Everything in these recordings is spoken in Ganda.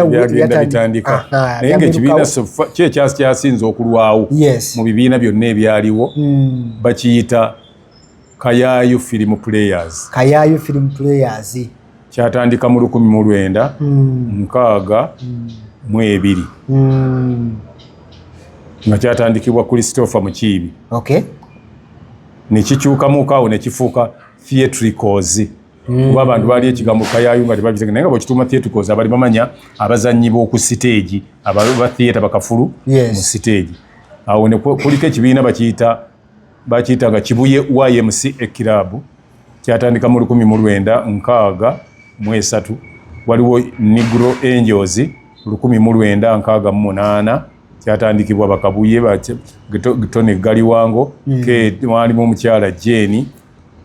byagenda bitandika naye nga ekibiina kyekyasinze okulwawo mu bibiina byonna ebyaliwo hmm. bakiyita kayayu film players kayayu film players kyatandika mu lukumi mu lwenda hmm. nkaaga hmm. mu ebiri nga kyatandikibwa christopher mukiibi nekikyukamuuka awo nekifuuka theatricals mm. kuba abantu baali ekigambo kayayu nga tebabize naye nga bwekituuma theatricals abali bamanya abazannyi b'oku siteegi aba theatre bakafulu mu siteegi awo ne kuliko ekibiina bakiyita bakiyita nga kibuye ymc ekirabu kyatandika mu lukumi mu lwenda nkaaga mu esatu waliwo negro angels lukumi mu lwenda nkaaga mu munaana kyatandikibwa bakabuye tony galiwango mm. mwalimu omukyala jeni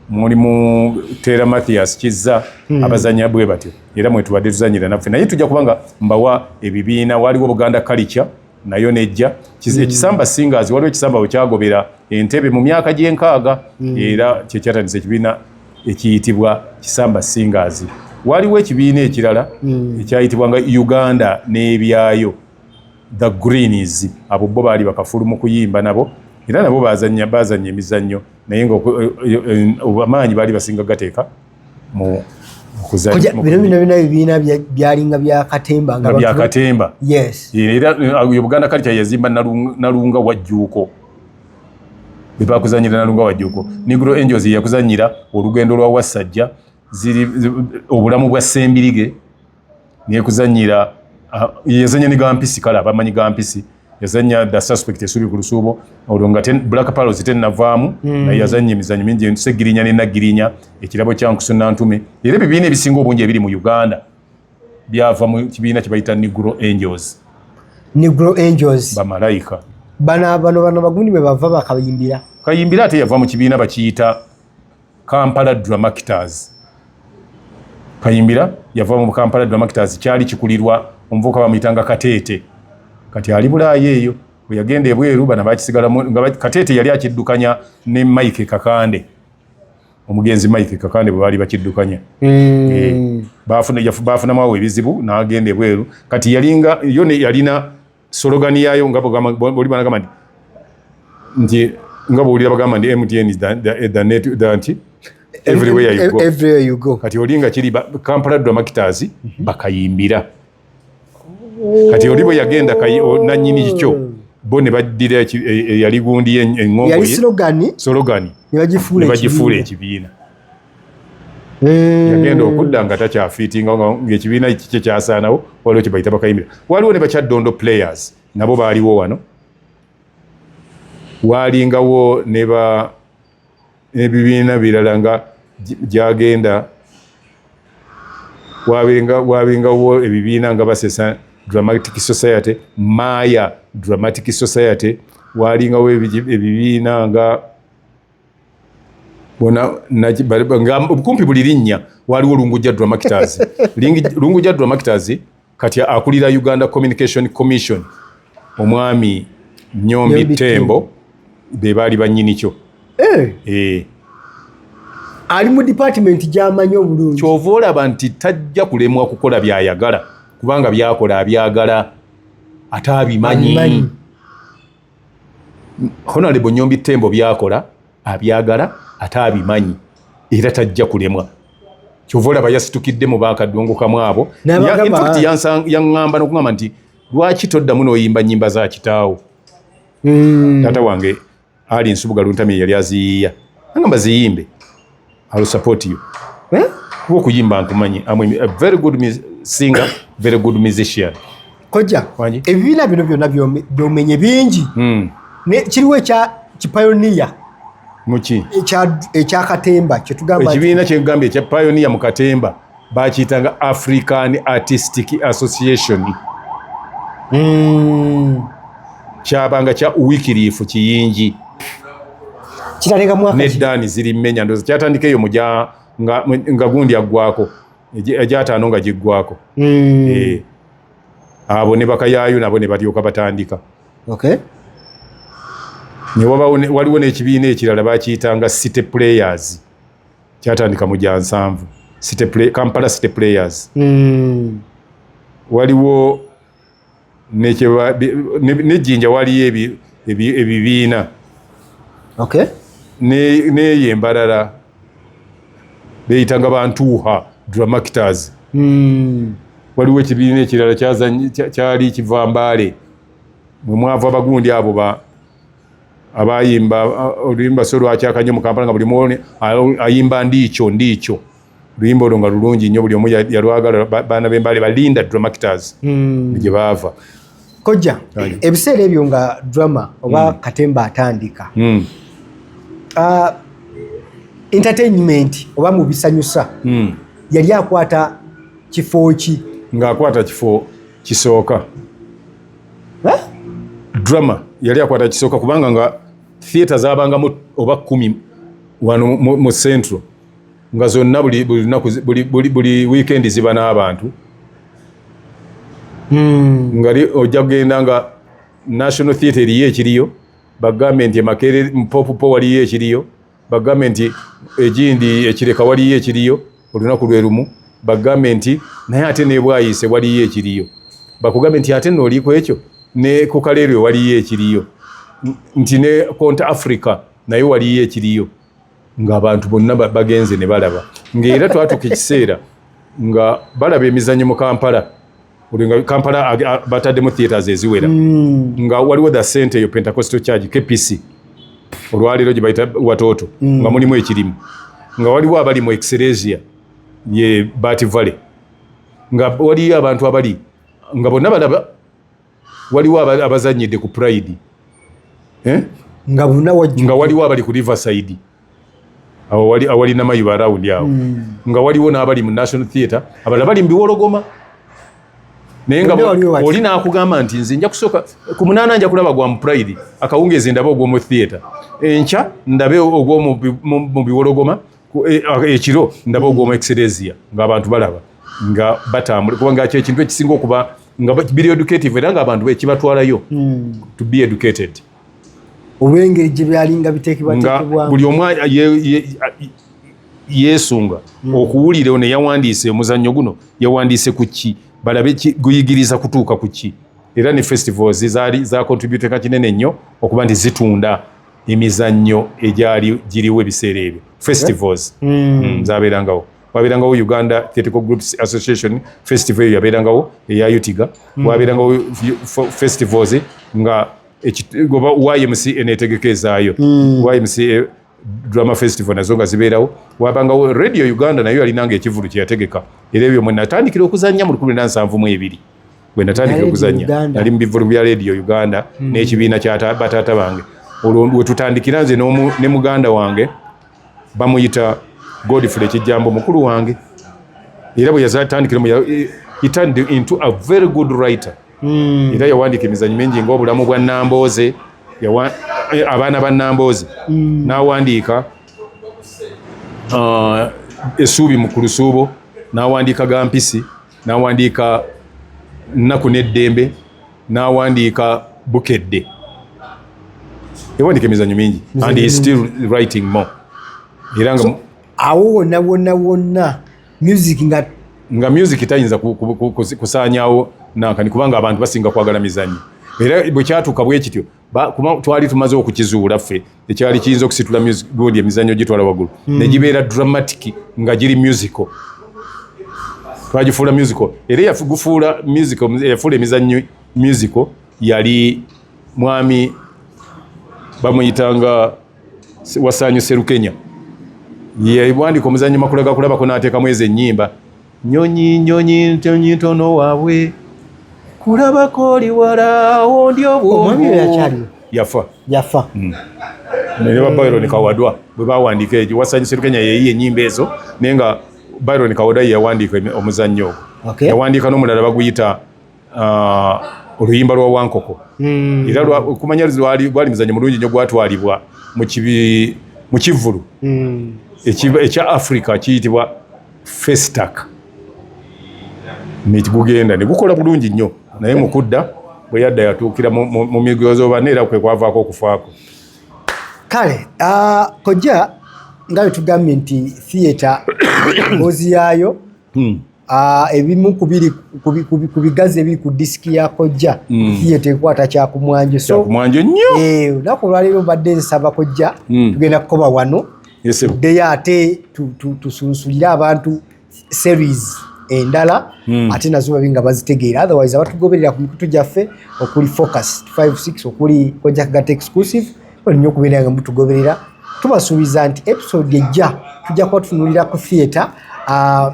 mulimu tera mathias kizza hmm. abazanya bwe batyo era mwetubadde tuzanyira naffe naye tujja kubanga mbawa ebibiina waliwo buganda kalica nayo nejja hmm. ekisamba singers waliwo ekisamba wekyagobera entebe mu myaka gyenkaaga hmm. era kyekyatandisa ekibiina ekiyitibwa kisamba singers waliwo ekibiina ekirala ekyayitibwa nga uganda n'ebyayo the greens abo bo baali bakafulu mu kuyimba nabo era nabo bazanya bazanya emizannyo naye nga amaanyi baali basinga gateeka mu bino ebibiina byalinga byakatemba byakatemba era uh, buganda kale kyayazimba nalunga wajjuuko bebakuzanyira nalunga wajjuuko negro angels yakuzanyira olugendo lwa wassajja ziri obulamu bwa sembirige nekuzanyira ah, yazanya ne gampisi kale abamanyi gampisi yazanya the suspect esubi ku lusuubo olwo nga black palos tenavaamu hmm. naye yazanya emizanyo mingi entusegirinya nenagirinya ekirabo kyankusuna ntume era ebibiina ebisinga obungi ebiri mu uganda byava mu kibiina kyebayita negro angels negro angels bamalayika bano bano bano bagundi bwe bava bakayimbira kayimbira ate yava mu kibiina bakiyita Kampala Dramactors Kayimbira yava mu Kampala Dramactors kyali kikulirwa omuvuka bamuyitanga Kateete kati ali bulaayo eyo bwe yagenda ebweru bana bakisigala nga Kateete yali akiddukanya ne Mike Kakande omugenzi Mike Kakande bwe baali bakiddukanya mm. e, baafuna baafunamu awo ebizibu n'agenda ebweru kati yalinga yo yalina Sologani yayo nga buli bana gamani nti nga buli bagamba ndi MTN is the the, the net the nti everywhere you go everywhere you go kati oli nga kiri Kampala do makitazi mm -hmm. bakayimbira kati oli bwe yagenda kayi na nyini kicho oh. bo ne baddira e, e, yali gundi eng'ombe yali sologani sologani ne bagifuula ekibiina Eh. yagenda okudda nga takyafiitinga ngaekibiina kikye kyasaanawo waliwo kye bayita bakayimira waliwo ne bakyaddondo players nabo baaliwo wano waalingawo neba ebibiina birala nga gyagenda waabingawo ebibiina nga basesa dramatic society maya dramatic society waalingawo ebibiina nga bona kumpi buli linnya waliwo lungujja dramakitazi lungujja dramakitazi kati akulira uganda communication commission omwami nyombi tembo be baali bannyini kyo eh. Eh. ali mu department gyamanyi obulungi kyova olaba nti tajja kulemwa kukola byayagala kubanga byakola abyagala ate abimanyi honalebo nyombi tembo byakola abyagala ate abimanyi era tajja kulemwa kyova olaba yasitukidde mu bakadungu kamu abo yaŋŋamba nokuŋamba nti lwaki toddamu noyimba nyimba za kitaawo hmm. taata wange ali nsubuga luntami yali aziyiya aŋamba ziyimbe I will support you. Eh? Kuba okuyimba nkumanyi. I'm a very good singer, very good musician. Koja, ebibiina bino byonna byomenye bingi. Hmm. Ne kiriwo ekya kipayoniya. Muki? Ekya ekya katemba kyetugamba. Ekibiina kyegambye ekya payoniya mu katemba. bakiyitanga african artistic association mm. kyabanga kya wikirifu kiyingi nedani ziri menya ndoza kyatandika eyo muja nga, nga gundi aggwako egyataano nga giggwako mm. e. abo ne bakayayo nabo ne balyoka batandika okay. ne waliwo n'ekibiina ekirala bakiyitanga city players kyatandika mu gyansanvu kampala city players mm. waliwo nejjinja waliyo ebibiina okay. neyo embalala beyitanga bantuuha dramactors mm. waliwo ekibiina ekirala kyali kiva mbaale mwemwava abagundi abo abayimba oluyimba so lwakyaka nnyo mu kampala nga buli mwone ayimba ndiikyo ndiikyo oluyimba olwo nga lulungi nnyo buli omu yalwagala baana bembale balinda dramactors hmm. gye baava kojja ebiseera ebyo nga drama oba hmm. katemba atandika hmm. ah, entertainment oba mu bisanyusa yali akwata kifo ki ng'akwata kifo kisooka eh? drama yali akwata kisooka kubanga nga theatre zabangamu oba kumi wano mu central nga zonna buli weekend ziba n'abantu hmm. nga ojja kugenda nga national theatre eriyo ekiriyo bagambe nti emakerere mpopupo waliyo ekiriyo bagambe nti egindi ekireka waliyo ekiriyo olunaku lwe lumu bagambe nti naye ate nebwayiise waliyo ekiriyo bakugambe nti ate nooli ku ekyo ne ku kaleerwe waliyo ekiriyo nti ne cont africa naye waliyo ekiriyo ngaabantu bonna bagenze ne balaba ngaera twatuka ekiseera nga balaba emizanyo mu kampala olinga kampala bataddemu theatres eziwera mm. nga waliwo the sente eyo pentacostal charge kpc olwaleero gyebayita watoto mm. nga mulimu ekirimu nga waliwo abali mu exeresia ye bat valley nga waliyo abantu abali nga bonna balaba waliwo abazanyidde ku pride eh? nga waliwo abali ku riverside awo wali awali namayiba around awo mm. nga waliwo n'abali mu national theatre abalala bali mubiwologoma naye nga oli nakugamba nti nze nja kusooka ku munaana nja kulaba gwa mupride akawungeezi ndabe ogwomu theatre enkya ndabe ogwomu mu biwologoma e, ekiro ndabe ogwomu exeresia ngaabantu balaba nga batambula kubanga kyo ekintu ekisinga okuba nga biri educative era ngaabantu bekibatwalayo mm. to be educated olw'engeri gye byalinga biteekebwateekebwa buli omu yeesunga hmm. okuwulira ono yawandiise omuzannyo guno yawandiise ku ki balabe guyigiriza kutuuka ku ki era ne festivals zaali zakontributeka kinene nnyo okuba nti zitunda emizannyo egyali giriwo ebiseera ebyo festivals hmm. Hmm, zabeerangawo wabeerangawo uganda theatrical groups association festival eyo yabeerangawo eya utiga mm. wabeerangawo festivals nga oba ymc eneetegeka ezaayo mm. ymc eh, drama festival nazo nga zibeerawo wabangawo radio uganda nayo yalinanga ekivulu kyeyategeka era ebyo mwenatandikira okuzanya mu lukumi nansanvu mu ebiri bwenatandikira okuzanya nali mu bivulu bya radio uganda mm. n'ekibiina kya bataata bange olwo wetutandikira nze ne muganda wange bamuyita Godfrey Kijambo mukulu wange era bwe yazatandikira mu he turned into a very good writer mm. era yawandiika emizanyo mingi ng'obulamu bwa Nambooze eh, abaana ba Nambooze mm. n'awandiika uh, esuubi mu kulusuubo n'awandiika ga mpisi n'awandiika nnaku n'eddembe n'awandiika bukedde yawandiika emizanyo mingi and he still writing more era nga awo wonna wonna wonna music nga nga music tayinza kusaanyawo nankani kubanga abantu basinga kwagala mizanyo era bwe kyatuuka bwe kityo kuba twali tumaze okukizuula ffe ekyali kiyinza okusitula gundi emizanyo gitwala waggulu hmm. negibeera dramatic nga giri musical twagifuula musical era yagufuula musical yafuula emizannyo musical yali mwami bamuyitanga wasanyu serukenya yewandika omuzannyo makula gakulabako n'ateekamu ezo ennyimba Nyonyi nyonyi nyonyi ntono wabwe kulabako oli wala ondi obwongo yafa yafa mm. naye ba Byron Kawadwa bwe bawandiika ekyo Wasanyu Sserukenya yeeyiye ennyimba ezo naye nga Byron Kawadwa ye yawandiika omuzannyo ogwo yawandiika n'omulala baguyita ah, oluyimba lwa wankoko hmm. era kumanya lwali muzanyo mulungi nyo gwatwalibwa mu kivvulu hmm. ekya africa kiyitibwa festac negugenda negukola bulungi nnyo naye mukudda bwe yadda yatuukira mu migozoobana era kwe kwavaako okufaako kale ah, kojja nga wetugambye nti theatre ngozi yaayo hmm. Ah, ebimu kubiri ku bigazi ebiri ku disiki ya kojja hmm. ye tekwata kyakumwanjo kyakumwanjo nnyo eh, olunaku olwaleero mbadde nsaba kojja hmm. tugenda kukoba wano tuddeyo ate tusunsulire abantu series endala hmm. ate nazo babi nga bazitegeera otherwise abatugoberera ku mikutu gyaffe okuli focus 56 okuli kojja kagata exclusive nnyo okubeera nga mutugoberera tubasuubiza nti episode ejja tujja kuba tutunulira ku theatre ah,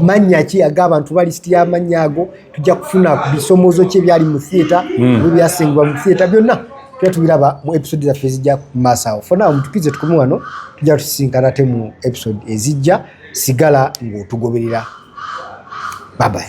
mannya ki aga abantu ba lisiti y'amannya ago tujja kufuna ku bisomoozo ki ebyali mu theatre hmm. ebyasengibwa mu theatre byonna tujja tubiraba mu episode zaffe ezijja ku maaso awo fonawo mutukirize tukume wano tujja tusisinkana te mu episode ezijja sigala ng'otugoberera babayi